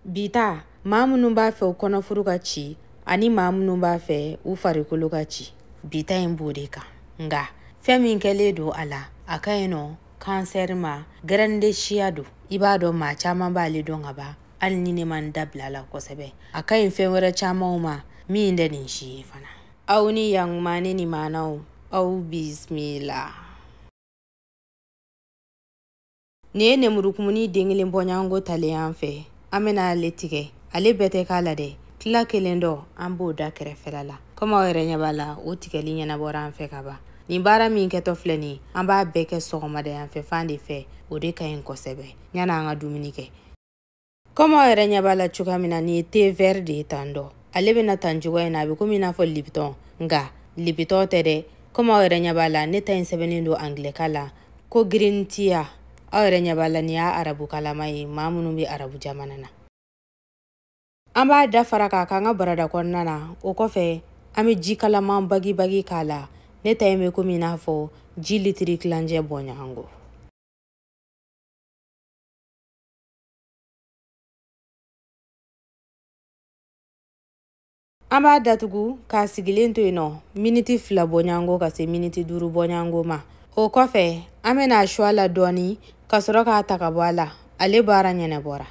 bi ta maa minnu b'a fɛ u kɔnɔfuru ka ci ani maa minnu b'a fɛ u farikolo ka ci bi ta in b'o de kan nka fɛn min kɛlen don a la a ka ɲi nɔ kansɛri ma gɛrɛnde siya don i b'a dɔn maa caman b'ale dɔn ka ban hali ni ne ma n da bila a la kosɛbɛ a ka ɲi fɛn wɛrɛ camanw ma min tɛ nin si ye fana aw ni yankuma ne ni maanaw aw bisimila nin ye nemurukumuni den kelen bɔɲɔgɔnko talen y'an fɛ an bɛna ale tigɛ ale bɛɛ tɛ k'a la dɛ tila kelen dɔ an b'o da kɛrɛfɛla la komi aw yɛrɛ ɲɛ b'a la o tigɛli ɲɛnabɔra an fɛ ka ban nin baara min kɛtɔ filɛ nin an b'a bɛɛ kɛ sɔgɔmada yan fɛ fan de fɛ o de ka ɲi kosɛbɛ yan'an ka dumuni kɛ kɔmi aw yɛrɛ ɲɛ b'a la cogoya min na nin ye te vɛri de ye tan dɔ ale bɛ na tan cogoya in na a bɛ komi i n'a fɔ libitɔn nka libitɔn tɛ dɛ kɔmi aw yɛrɛ ɲɛ b'a la ne ta in sɛbɛnnen don angilɛkan la ko green tea aw yɛrɛ ɲɛ b'a la nin y'a arabukanlama ye maa minnu bɛ arabu jamana na an b'a da fara k'a k'an ka barada kɔnɔna na o kɔfɛ an bɛ ji kalaman bagibagi k'a la ne ta in bɛ komi i n'a fɔ ji litiri tilancɛ bɔɲɔgɔnko an b'a datugu k'a sigilen to yen nɔ miniti fila bɔɲango ka se miniti duuru bɔɲango ma o kɔfɛ an bɛna a su a la dɔɔni ka sɔrɔ k'a ta ka bɔ a la ale baara ɲɛnabɔra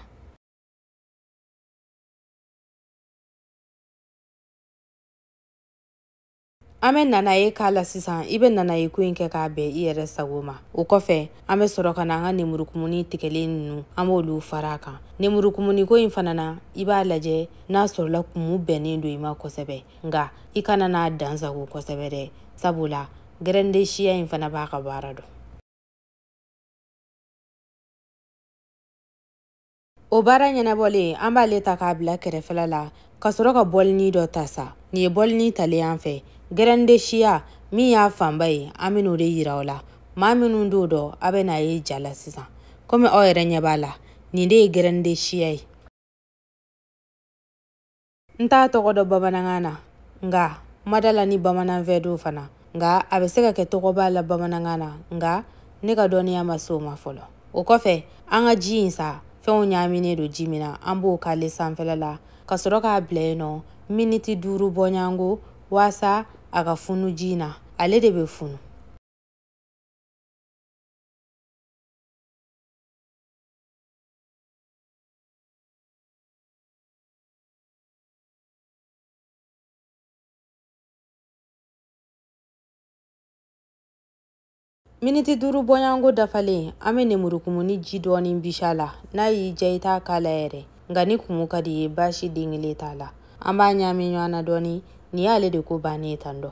an bɛ nanaye k'a la sisan i bɛ nanaye ko in kɛ k'a bɛn i yɛrɛ sago ma o kɔfɛ an bɛ sɔrɔ ka na an ka nemurukumuni tigɛlen ninnu an b'olu fara a kan nemurukumuni ko in fana na i b'a lajɛ n'a sɔrɔla kumu bɛnnen don i ma kosɛbɛ nka i kana n'a dansagon kosɛbɛ dɛ sabula gɛrɛnde siya in fana b'a ka baara dɔn o baara ɲɛnabɔlen an b'ale ta k'a bila kɛrɛfɛla la ka sɔrɔ ka bɔlini dɔ ta sa nin ye bɔlini talen y'an fɛ gɛrɛnde siya min y'a fanba ye an bɛn'o de yira aw la maa minnu t'o dɔn a bɛn'a ye ja la sisan komi aw yɛrɛ ɲɛ b'a la nin de ye gɛrɛnde siya ye n t'a tɔgɔ dɔn bamanankan na nka n ma da a la ni bamananfɛn don fana nka a bɛ se ka kɛ tɔgɔ b'a la bamanankan na nka ne ka dɔnniya ma se o ma fɔlɔ o kɔfɛ an ka ji in sa fɛnw ɲaaminen don ji min na an b'o k'ale sanfɛla la ka sɔrɔ k'a bila yen nɔ miniti duuru bɔɲango waasa a ka funu ji in na ale de bɛ funu miniti duuru bɔɲɔgɔnko dafalen an bɛ nemurukumuni ji dɔɔnin bisi a la n'a y'i diya i t'a k'a la yɛrɛ nka ni kumu ka di i ye baasi den kelen t'a la an b'a ɲaami ɲɔgɔn na dɔɔnin nin y'ale de ko bannen ye tan dɔ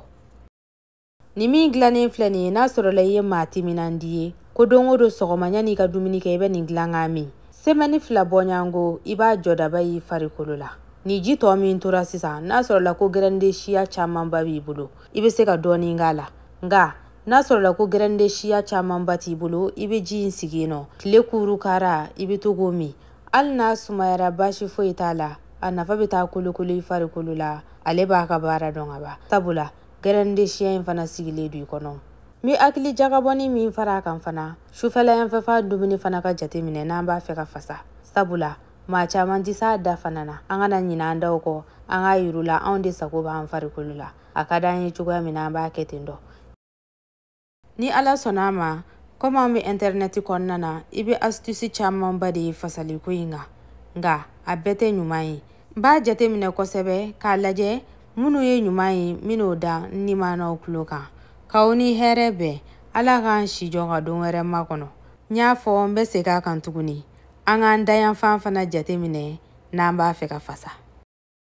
ni min dilannen filɛ nin ye n'a sɔrɔla i ye maa timinandi ye ko don o don sɔgɔma yan'i ka dumuni kɛ i bɛ nin dilan k'a min semɛni fila bɔɲango i b'a jɔdaba y'i farikolo la ni ji tɔ min tora sisan n'a sɔrɔla ko gɛrɛnde siya camanba b'i bolo i bɛ se ka dɔɔnin k'a la nka n'a sɔrɔla ko gɛrɛnde siya camanba t'i bolo i bɛ ji in sigi yen nɔ tile kuuru kara i bɛ to k'o min hali n'a sumayara baasi foyi t'a la a nafa bɛ taa kolokolo i farikolo la ale b'a ka baara dɔn ka ban sabula gɛrɛndesiya in fana sigilen don i kɔnɔ n bɛ hakili jagabɔni min fara a kan fana sufɛla yanfɛfa dumuni fana ka jate minɛ n'an b'a fɛ ka fasa sabula maa caman tɛ s'a da fana na an kana ɲina an daw kɔ an k'a yir'u la anw de sago b'an farikolo la a ka d'an ye cogoya min na an b'a kɛ ten dɔ Ni Ala sɔnna a ma, komi an bɛ Ɛntɛrinɛti kɔnɔna na, i bɛ asitusi camanba de ye fasaliko in kan. Nka a bɛɛ tɛ ɲuman ye. N b'a jateminɛ kosɛbɛ k'a lajɛ minnu ye ɲuman ye, n bɛn'o da n nimanaw tulo kan. K'aw ni hɛrɛ bɛn. Ala k'an si jɔ ka don wɛrɛ makɔnɔ. N y'a fɔ, n bɛ segin a kan tuguni, an k'an dayanfan fana jateminɛ n'an b'a fɛ ka fasa.